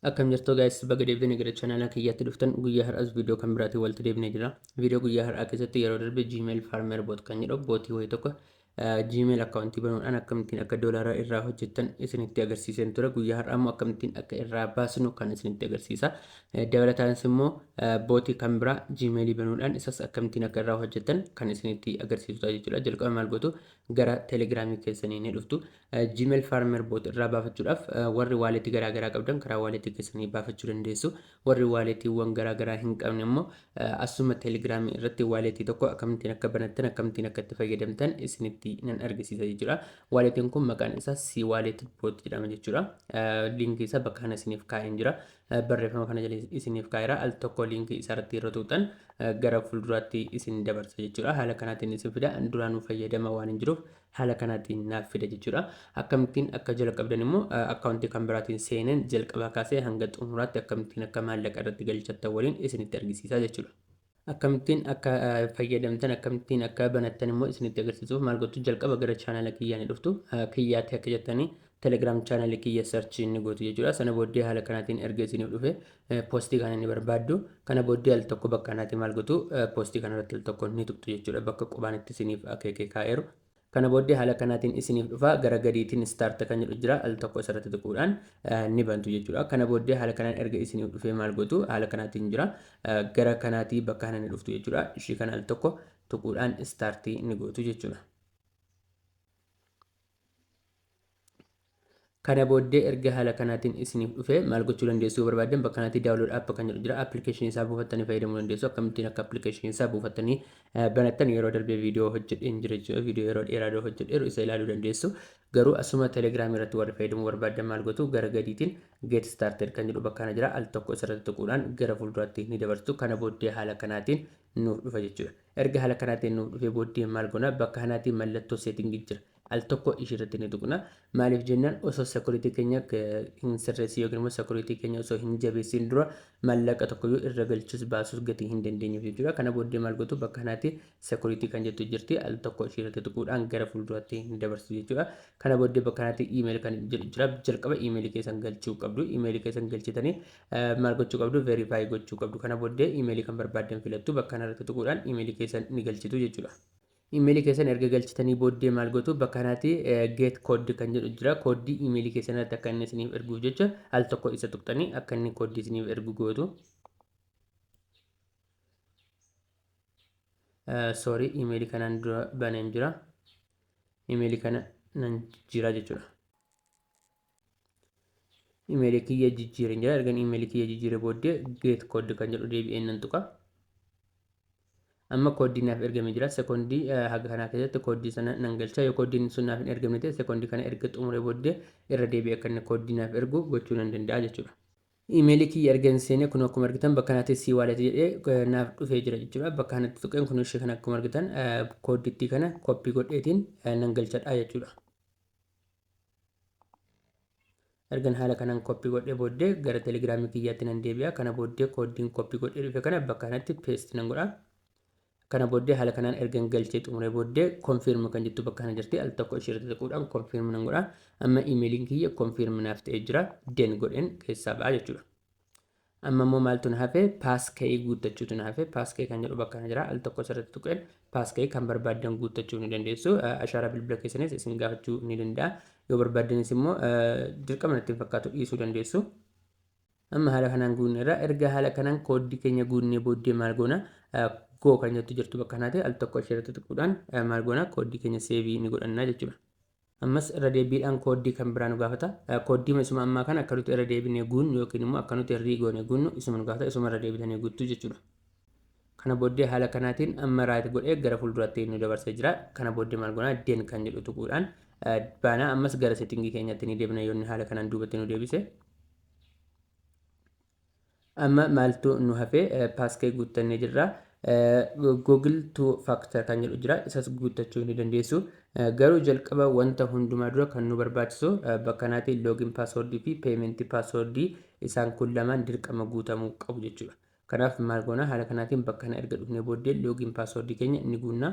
Akkam jirtu guys baga deebitanii gara channel kiyyaatti dhuftan guyyaa har'as viidiyoo kan biraatiin walitti deebinee jira. Viidiyoo guyyaa har'aa keessatti yeroo darbe Gmail Farmer Bot kan jedhu bootii wayii tokko Gmail akkaawuntii banuudhaan akkamittiin akka doolaara irraa hojjettan isinitti agarsiiseen ture. Guyyaa har'aa immoo akkamittiin akka irraa baasnu kan isinitti agarsiisa. Dabalataanis immoo bootii kan biraa Gmail banuudhaan isas akkamittiin akka irraa hojjettan kan isinitti agarsiisudha jechuudha. Jalqaba maal gootu gara Telegiraamii keessanii ni dhuftu. Gmail Farmer Bot irraa baafachuudhaaf warri waaleetii garaa garaa qabdan karaa waaleetii keessanii baafachuu dandeessu. Warri waaleetiiwwan garaa garaa hin qabne immoo asuma teelegiraamii irratti waaleetii tokko akkamittiin akka banattan akkamittiin akka itti fayyadamtan isinitti nan argisiisa jechuudha. Waaleetiin kun maqaan isaa C Wallet Bot jedhama jechuudha. Liinkii isaa bakka kana isiniif kaa'een jira. Barreeffama kana jala isiniif kaa'eera. Al tokko liinkii isaa irratti yeroo tuutan gara fuulduraatti isin dabarsa jechuudha. Haala kanaatiin isin fida. Duraanuu fayyadama waan hin jiruuf Haala kanaatiin naaf fida jechuudha. Akkamittiin akka jalqabdan immoo akkaawuntii kan biraatiin seeneen jalqabaa kaasee hanga xumuraatti akkamittiin akka maallaqa irratti galchattan waliin isinitti argisiisaa jechuudha. Akkamittiin akka fayyadamtan akkamittiin akka banattan immoo isinitti agarsiisuuf maal gochuu jalqaba gara chaanala kiyyaa ni dhuftu. Kiyyaatti akka jettanii Telegram channel kiyya search inni gootu jechuudha. Sana booddee haala kanaatiin erga isiniif dhufe poostii kana inni barbaaddu. Kana booddee al tokko bakka kanaatiin maal gootu poostii kana irratti al tokko ni tuqxu jechuudha. Bakka qubaan itti isiniif akeekee kaa'eeru. Kana booddee haala kanaatiin isiniif dhufa gara gadiitiin start kan jedhu jira al tokko isarratti tuquudhaan ni bantu jechuudha. Kana booddee haala kanaan erga isiniif dhufee maal gootu haala kanaatiin jira gara kanaatii bakka kana ni dhuftu jechuudha. Ishii kana al tokko tuquudhaan start ni gootu jechuudha. Kana booddee erga haala kanaatiin isiniif dhufe maal gochuu dandeessu yoo barbaaddan bakka kanatti download app kan jedhu jira application isaa buufattanii fayyadamuu dandeessu akkamittiin akka application isaa buufattanii eh, banattan yeroo darbee viidiyoo hojjedheen jira jechuudha viidiyoo yeroo dheeraa dura hojjedheeru isa ilaaluu dandeessu garuu asuma telegram irratti warri fayyadamuu barbaaddan maal gotu gara gadiitiin get started kan jedhu bakka kana jira al tokko isarratti tuquudhaan gara fuulduraatti ni dabartu kana booddee haala kanaatiin nuuf dhufa jechuudha Erga hala kanaa ta'e nuuf dhufee booddee maal gonaa bakka hanaatii mallattoo setting jira al tokko ishii irratti ni tuqna maaliif jennaan osoo security keenya hin sirreessin yookiin immoo security keenya osoo hin jabeessin dura mallaqa tokkoyyuu irra galchus baasus gatii hin dandeenyuuf jechuudha kana booddee maal gotu bakka hanaatii security kan jettu jirti al tokko ishii irratti tuquudhaan gara fuulduraatti hin dabarsu jechuudha kana booddee bakka hanaatii email kan jedhu jira jalqaba email keessan galchuu qabdu email keessan galchitanii Maal gochuu qabdu? Verify gochuu qabdu. Kana booddee imeelii kan barbaaddan filattu bakka kanarratti tuquudhaan imeelii keessan ni galchitu jechuudha. Imeelii keessan erga galchitanii booddee maal gootu? Bakka kanatti get code kan jedhu jira. Kooddii imeelii keessan irratti akka inni isiniif erguuf jecha al tokko isa tuqxanii akka inni kooddii isiniif ergu gootu. Sorry imeelii kanaan dura baneen jira. Imeelii kana nan jira jechuudha. Imeelii kiyya jijjiireen jira. Ergan imeelii kiyya jijjiiree booddee geet kooddi kan jedhu deebi'een nan tuqa. Amma kooddiin naaf ergamee jira. Sekoondii haga kanaa keessatti kooddii sana nan galcha. Yoo kooddiin sun naaf hin ergamne ta'e sekoondii kana erga xumuree booddee irra deebi'ee akka inni kooddii naaf ergu gochuu nan danda'a jechuudha. Imeelii kiyya erga hin seenee kun akkuma argitan bakka kanatti sii waaleeti jedhee naaf dhufee jira jechuudha. Bakka kanatti tuqeen kun ishee kana akkuma argitan kooddittii kana koppii godheetiin nan galchadha jechuudha. ergan haala kanaan koppii godhee booddee gara telegiraamii kiyyaatti nan deebi'a kana booddee kooddiin koppii godhee dhufe kana bakka kanatti peesti nan godha kana booddee haala kanaan ergan galchee xumuree booddee konfiirmi kan jettu bakka kana jirti al tokko ishee irratti tuquudhaan konfiirmi nan godha amma imeeliin kiyya konfiirmi naaf ta'ee jira den godheen keessaa ba'a jechuudha Amma immoo maaltu na hafe? Paaskayii guuttachuutu na hafe. Paaskayii kan jedhu bakka kana jira. Al tokko asirratti tuqeen paaskayii kan barbaaddan guuttachuu ni dandeessu. Ashaaraa bilbila keessanis isin gaafachuu ni danda'a. Yoo barbaaddanis immoo dirqama natti hin fakkaatu dhiisuu dandeessu. Amma haala kanaan guunne irraa erga haala kanaan kooddii keenya guunnee booddee maal goona? Goo kan jettu jirtu bakka kanaati. Al tokko asheerratti tuquudhaan maal goona? Kooddii keenya seevii ni godhanna jechuudha. Ammas irra deebbiidhaan kooddii kan biraa nu gaafata. Kooddiima isuma ammaa kana akka nuti irra deebinee guunnu yookiin immoo akka nuti rii goonee guunnu isuma nu gaafata isuma irra deebitanii guuttu jechuudha. Kana booddee haala kanaatiin amma raayit godhee gara fuulduraatti nu dabarsee jira. Kana booddee maal goonaa den kan jedhu tuquudhaan baanaa ammas gara settingii keenyatti ni deebina yoonni haala kanaan duubatti nu deebise. Amma maaltu nu hafe? Paaskee guuttannee jirra. Google to factor kan jedhu jira. Isas guuttachuu ni dandeessu. Garuu jalqaba wanta hundumaa dura kan nu barbaachisu bakka kanaatiin loogiin paaswoordii fi peementii paaswoordii isaan kun lamaan dirqama guutamuu qabu jechuudha. Kanaaf maal goona? Haala kanaatiin bakka kana erga dhufnee booddee loogiin paaswoordii keenya ni guunna.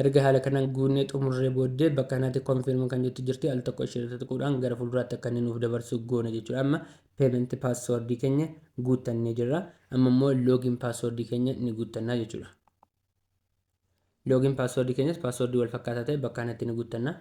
Erga haala kanaan guunnee xumurree booddee bakka kanaatti confirm kan jettu jirti al tokko ishee irratti tuquudhaan gara fuulduraatti akka inni nuuf dabarsu goona jechuudha amma payment password keenya guuttannee jirra amma immoo login password keenya ni guuttannaa jechuudha login password keenyas password wal fakkaataa ta'e bakka kanatti ni guuttanna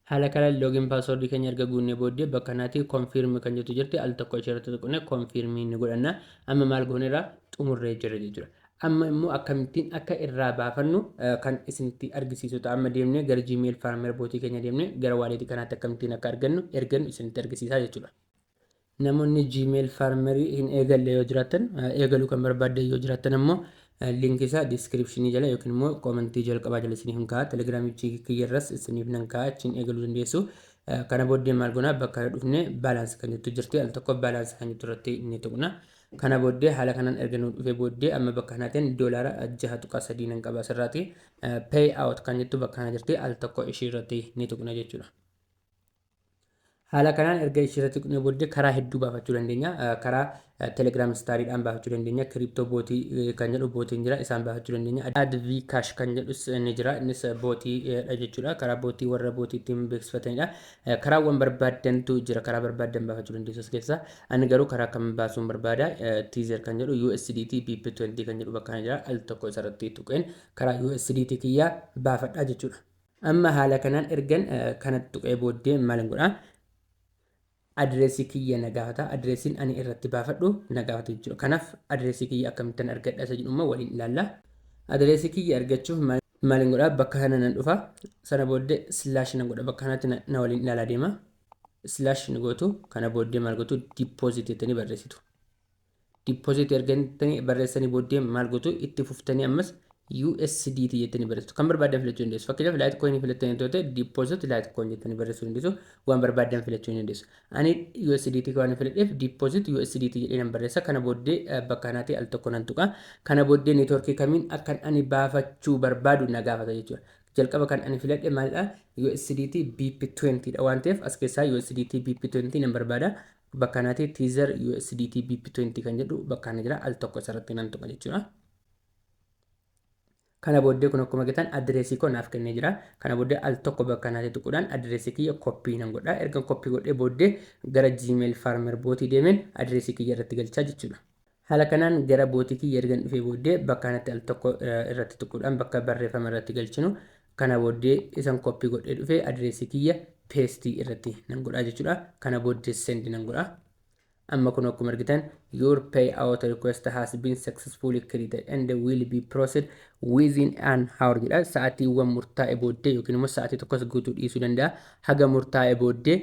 Haala kanaan login password keenya erga guunnee booddee bakka kanatti confirm kan jettu jirti al tokko ishee irratti tuqnee confirm ni godhanna. Amma maal gooneerra xumurree jirra jechuudha. Amma immoo akkamittiin akka irraa baafannu kan isinitti argisiisu ta'a. Amma deemnee gara Gmail Farmer bootii keenya deemnee gara wallet kanaatti akkamittiin akka argannu ergannu isinitti argisiisaa jechuudha. Namoonni Gmail Farmer hin eegalle yoo jiraattan, eegaluu kan barbaaddan yoo jiraattan ammoo link isaa description jala yookiin immoo comment jalqabaa jala isiniif hin kaa'a. Telegram kiyya irras isiniif nan kaa'a achiin eegaluu dandeessu. Kana booddee maal goona bakka irra dhufne balance kan jettu jirti al tokko balance kan jettu irratti ni tuqna. Kana booddee haala kanaan erga nu dhufee booddee amma bakka kanaatiin doolaara 6.3 nan qaba asirraati. Pay out kan jettu bakka kana jirti al tokko ishii irratti ni tuqna jechuudha. Haala kanaan erga ishii irratti tuqnee booddee karaa hedduu baafachuu dandeenya. Karaa Telegram Stariidhaan baafachuu dandeenya. Crypto bootii kan jedhu bootiin jira isaan baafachuu dandeenya. Adv Cash kan jedhus ni jira innis bootiidha jechuudha. Karaa bootii warra bootii ittiin beeksifatanidha. Karaawwan barbaaddantu jira. Karaa barbaaddan baafachuu dandeessu as keessaa. Ani garuu karaa kam baasuun barbaada. Teaser kan jedhu USDT BP20 kan jedhu bakka kana jira. Al tokko isarratti tuqeen karaa USDT kiyyaa baafadha jechuudha. Amma haala kanaan ergan kana tuqee booddee maalin godha? Adireesii kiyya na gaafata. Adireesiin ani irratti baafadhu na gaafata jechuudha. Kanaaf adireesii kiyya akkamittan argadha isa jedhu immoo waliin ilaalla. Adireesii kiyya argachuuf maalin godha? Bakka kana nan dhufa. Sana booddee slash nan godha. Bakka kanatti na waliin ilaalaa deema. Slash ni gootu. Kana booddee maal gootu? Deposit jettanii barreessitu. deposit erga jettanii barreessanii booddee maal gootu itti fuftanii ammas USDT jettanii barreessitu. Kan barbaaddan filachuu dandeessu. Fakkeenyaaf Litecoin filattanii yoo ta'e deposit Litecoin jettanii barreessuu dandeessu. Waan barbaaddan filachuu ni dandeessu. Ani USDT waan filadheef deposit USDT jedhee nan barreessa. Kana booddee eh, bakka kanaatii al tokko nan tuqa. Kana booddee networkii kamiin akkan ani baafachuu barbaadu na gaafata jechuudha. Jalqaba kan ani filadhe maalidha? USDT BP20 dha waan ta'eef as keessaa USDT BP20 nan barbaada. Bakka kanati teaser USDT BP20 kan jedhu bakka kana jira al tokko isarratti nan tuqa jechuudha. Kana booddee kun akkuma argitan adireesii koo naaf kennee jira. Kana booddee al tokko bakka kanatti tuquudhaan adireesii kiyya koppii nan godha. Ergan koppii godhee booddee gara Gmail Farmer bootii deemeen adireesii kiyya irratti galchaa jechuudha. Haala kanaan gara bootii kiyya ergan dhufee booddee bakka kanatti al tokko irratti tuquudhaan bakka barreeffama irratti galchinu kana booddee isan copy godhee dhufee adireesii kiyya paste irratti nan godhaa jechuudha. Kana booddee send nan godha. Amma kun akkuma argitan your payout request has been successfully created and will be processed within an hour jedha. Sa'aatiiwwan murtaa'e booddee yookiin immoo sa'aatii tokkos guutuu dhiisuu danda'a. Haga murtaa'e booddee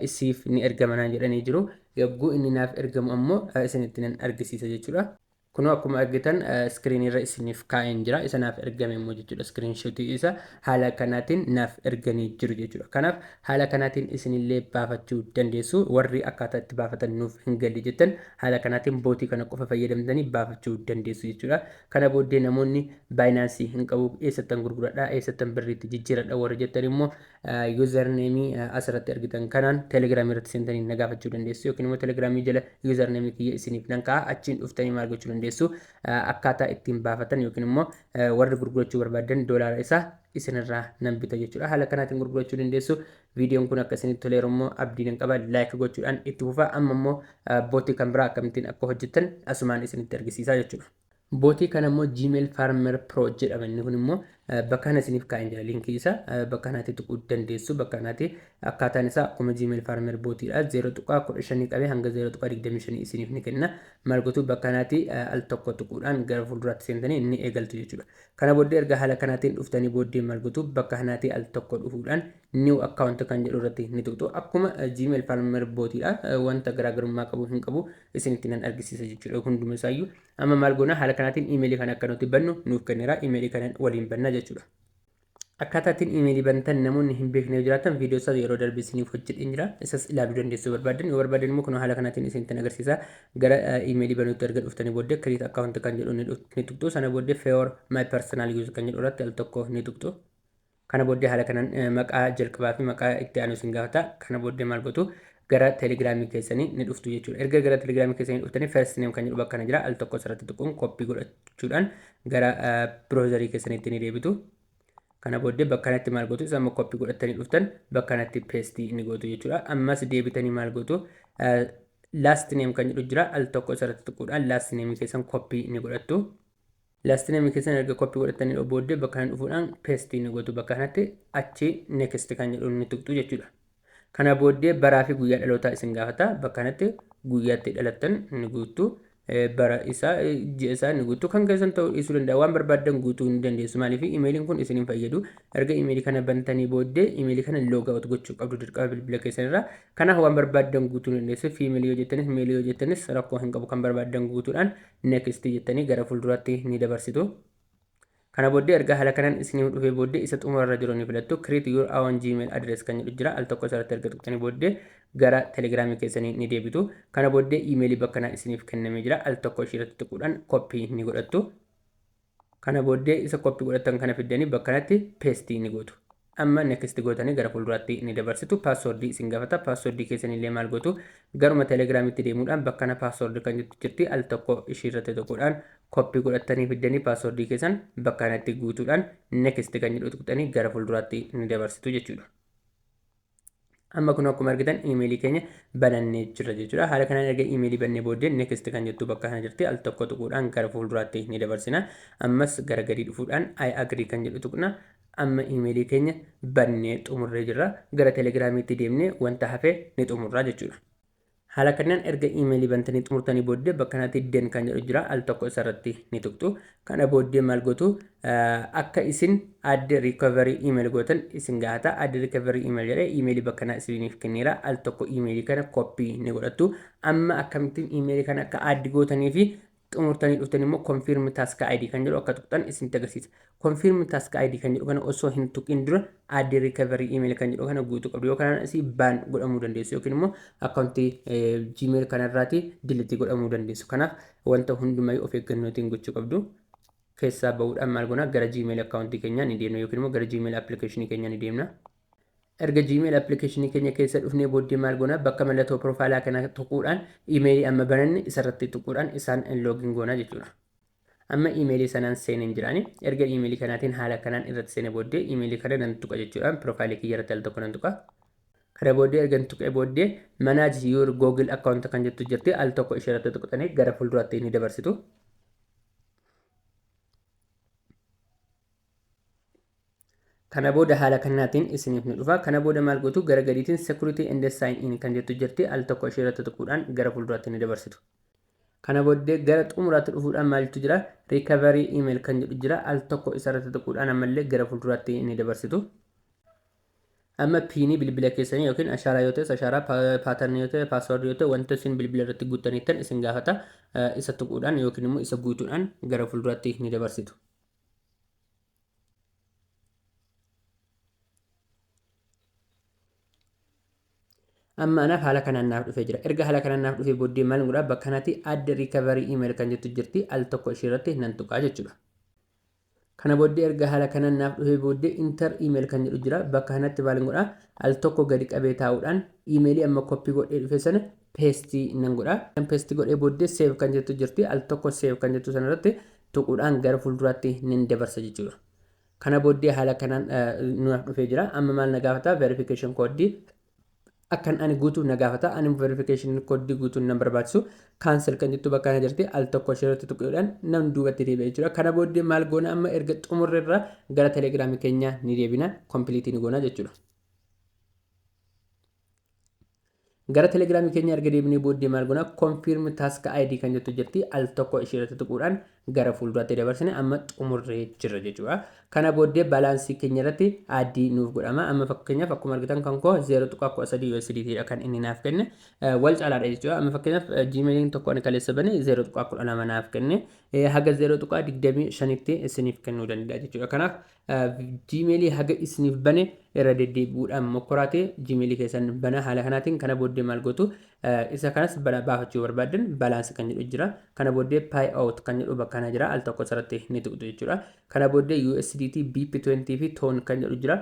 isiif ni ergama naan jedhanii jiru. Yogguu inni naaf ergamu ammoo isinitti nan argisiisa jechuudha. Kunoo akkuma argitan screen irra isiniif kaa'een jira. Isa naaf ergame immoo jechuudha screenshot isa haala kanaatiin naaf erganii jiru jechuudha. Kanaaf haala kanaatiin isinillee baafachuu dandeessu. Warri akkaataa itti baafatan nuuf hin galle jettan haala kanaatiin bootii kana qofa fayyadamtanii baafachuu dandeessu jechuudha. Kana booddee namoonni Binance hin qabu eessattan gurguradha eessattan birriitti jijjiiradha warri jettan immoo Username as irratti argitan kanaan Telegram irratti seentanii na gaafachuu dandeessu yookiin immoo Telegram jala username kiyya isiniif nan kaa'a achiin dhuftanii maal gochuu dandeessu akkaataa ittiin baafatan yookiin immoo warri gurgurachuu barbaadan doolaara isaa isinirraa nan bita jechuudha haala kanaatiin gurgurachuu dandeessu viidiyoon kun akka isinitti toleeru immoo abdii nan qaba laayik gochuudhaan itti fufaa amma immoo bootii kan biraa akkamittiin akka hojjettan asumaan isinitti argisiisaa jechuudha. Bootii kana immoo Gmail Farmer Pro jedhama inni kun immoo bakka kana isiniif kaa'een jira linkii isa bakka kanaatti tuquu dandeessu bakka kanaatti akkaataan isaa akkuma Gmail Farmer bootiidha 0.15 qabee hanga 0.25 isiniif ni kenna maal gotuu bakka kanaatti al tokko tuquudhaan gara fuulduraatti seentanii inni eegaltu jechuudha. Kana booddee erga haala kanaatiin dhuftanii booddee maal gotuu bakka kanaatti al tokko dhufuudhaan new account kan jedhu irratti ni tuqxu akkuma gmail farmer bootiidha wanta garaagarummaa qabu hin qabu isinitti nan argisiisa jechuudha hunduma isaayyuu amma maal goona haala kanaatiin imeelii kana akka nuti bannu nuuf kenneera imeelii kanan waliin banna jechuudha. Akkaataa ittiin imeelii bantan namoonni hin beekne yoo jiraatan viidiyoo isaa yeroo darbe isiniif hojjedheen jira isas ilaaluu dandeessu barbaadan yoo barbaadan immoo kun haala kanaatiin isinitti agarsiisa gara imeelii banuutti erga dhuftanii booddee create account kan jedhu ni tuqxu sana booddee for my personal use kan jedhu irratti al tokko ni tuqxu. Kana booddee haala kanan maqaa jalqabaa fi maqaa itti aanu isin gaafata. Kana booddee maal gootu? Gara telegiraamii keessanii ni dhuftu jechuudha. Erga gara telegiraamii keessanii dhuftanii first name kan jedhu bakka kana jira. Al tokko asirratti tuquun koppii godhachuudhaan gara biroozarii keessaniitti ni deebitu. Kana booddee bakka kanatti maal gootu? Isa amma koppii godhattanii dhuftan bakka kanatti peestii ni gootu jechuudha. Ammas deebitanii maal gootu? Last name kan jedhu jira. Al tokko asirratti tuquudhaan last name keessan koppii ni godhattu. Last name keessan erga copy godhattanii dha booddee bakka kana dhufuudhaan paste ni gootu bakka kanatti achi next kan jedhuun ni tuqxu jechuudha. Kana booddee baraa fi guyyaa dhalootaa isin gaafata bakka kanatti guyyaa itti dhalattan ni guuttu bara isaa ji'a isaa ni guuttu kan keessan ta'uu dhiisuu danda'a waan barbaaddan guutuu ni dandeessu maaliif imeeliin kun isin hin fayyadu erga imeelii kana bantanii booddee imeelii kana log out gochuu qabdu dirqama bilbila keessan irraa kanaaf waan barbaaddan guutuu ni dandeessu fiimeelii yoo jettanis meelii yoo jettanis rakkoo hin qabu kan barbaaddan guutuudhaan next jettanii gara fulduraatti ni dabarsitu. Kana booddee erga haala kanaan isiniif dhufee booddee isa xumurarra jiru ni filattu. Create your own Gmail address kan jedhu jira. Al tokko isarratti erga tuqxanii booddee gara Telegram keessanii ni deebitu. Kana booddee iimeelii bakkanaa isiniif kennamee jira. Al tokko ishiirratti tuquudhaan koppii ni godhattu. Kana booddee isa copy godhattan kana fiddanii bakka kanatti paste ni gootu. Amma next gootanii gara fuulduraatti ni dabarsitu. Password isin gafata. Password keessanillee maal gootu? Garuma telegram itti deemuudhaan bakka kana password kan jettu jirti al tokko ishii irratti tuquudhaan copy godhattanii fiddanii password keessan bakka kanatti guutuudhaan next kan jedhu tuqxanii gara fuulduraatti ni dabarsitu jechuudha. Amma kun akkuma argitan iimeelii keenya banannee jirra jechuudha. Haala kanaan erga iimeelii bannee booddee next kan jettu bakka kana jirti. Al tokko tuquudhaan gara fuulduraatti ni dabarsina. Ammas gara gadii dhufuudhaan I agree kan jedhu tuqna. Amma iimeelii keenya bannee xumurree jirra. Gara telegiraamiitti deemnee wanta hafe ni xumurra jechuudha. Haala kanaan erga email bantanii xumurtanii booddee bakka kanatti den kan jedhu jira al tokko isa irratti ni tuqxu. Kana booddee maal gootu akka isin add recovery email gootan isin gaafata. Add recovery email jedhee email bakka kanaa isiniif kenneera. Al tokko email kana copy ni godhattu. Amma akkamittiin email kana akka add gootanii fi xumurtanii dhuftan immoo confirm task ID kan jedhu akka tuqxan isinitti agarsiisa. Confirm task ID kan jedhu kana osoo hin tuqin dura add recovery email kan jedhu kana guutuu qabdu yoo kanaan asii ban godhamuu dandeessu yookiin immoo akkaawuntii gmail kanarraati delete godhamuu dandeessu. Kanaaf wanta hundumayyuu of eeggannootiin gochuu qabdu. Keessaa ba'uudhaan maal goona gara gmail akkaawuntii keenyaa ni deemna yookiin immoo gara gmail application keenyaa ni deemna. Erga Gmail application keenya keessa dhufnee booddee maal goona bakka mallattoo profile kana tuquudhaan email amma bananne isarratti tuquudhaan isaan login goona jechuudha. Amma email sanaan seeneen jiraani. Erga email kanaatiin haala kanaan irratti seene booddee email kana nan tuqa jechuudhaan profile kiyya irratti al tokko nan tuqa. Kana booddee ergan tuqee booddee manage your google account kan jettu jirti al tokko ishee irratti tuqxanii gara fuulduraatti ni dabarsitu. Kana booda haala kanaatiin isiniif ni dhufa. Kana booda maal gootu gara gadiitiin security and sign in kan jettu jirti al tokko ishee irratti tuquudhaan gara fuulduraatti ni dabarsitu. Kana booddee gara xumuraatti dhufuudhaan maaltu jira recovery email kan jedhu jira al tokko isa irratti tuquudhaan ammallee gara fuulduraatti ni dabarsitu. Amma piinii bilbila keessanii yookiin ashaaraa yoo ta'es ashaaraa paatarnii yoo ta'e paasword yoo ta'e wanta isin bilbila irratti guuttaniittan isin gaafata isa tuquudhaan yookiin immoo isa guutuudhaan gara fuulduraatti ni dabarsitu. amma anaaf haala kanaan naaf dhufee jira erga haala kanaan naaf dhufee booddee maal godhaa bakka kanatti add recovery email kan jettu jirti al tokko ishee irratti nan tuqaa jechuudha kana booddee erga haala kanaan naaf dhufee booddee inter email kan jedhu jira bakka kanatti maal godhaa al tokko gadi qabee taa'uudhaan imeelii amma koppii godhee dhufe sana peestii nan godhaa kan peestii godhee booddee seev kan jettu jirti al tokko seev kan jettu sana irratti tuquudhaan gara fuulduraatti nin dabarsa jechuudha. Kana booddee haala kanaan nuuf dhufee jira. Amma maal na gaafata? Verification code akkan ani guutu na gaafata. Ani verification code guutuun nan barbaachisu. Cancel kan jettu bakka kana jirti. Al tokko isheerratti tuquudhaan nam duubatti deebi'a jechuudha. Kana booddee maal goona amma erga xumurre irraa gara telegiraamii keenya ni deebina. Complete ni goona jechuudha. Gara telegiraamii keenya erga deebinee booddee maal goona confirm task ID kan jettu jirti al tokko ishee irratti tuquudhaan gara fuulduraatti dabarsine amma xumurree jirra jechuudha. Kana booddee balaansii keenya irratti ID nuuf godhama. Amma fakkeenyaaf akkuma argitan kan koo 0.13 USDT dha kan inni naaf kenne wal caalaadha jechuudha. Amma fakkeenyaaf Gmailin tokko ani kaleessa bane 0.12 naaf kenne haga 0.25tti isiniif kennuu danda'a jechuudha. Kanaaf Gmail haga isiniif bane irra deddeebi'uudhaan mokkoraate Gmail keessan bana haala kanaatiin kana booddee maal gootu isa kanas bala baafachuu barbaaddan balance kan jedhu jira kana booddee pay out kan jedhu bakka kana jira al tokko sarratti ni tuqxu jechuudha kana booddee USDT BP20 fi ton kan jedhu jira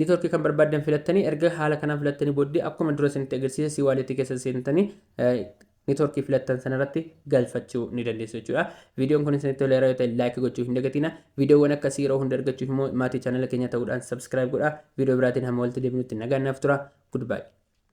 network kan barbaaddan filattanii erga haala kanaan filattanii booddee akkuma dura isinitti agarsiise si wallet keessa seentanii network filattan sanarratti galfachuu ni dandeessu jechuudha. Viidiyoon kun isinitti toleera yoo ta'e like gochuu hin dagatina. Viidiyoowwan akkasii yeroo hunda argachuuf immoo maatii chaanala keenya ta'uudhaan subscribe godhaa. Viidiyoo biraatiin hamma walitti deebinutti nagaan naaf tura. Goodbye.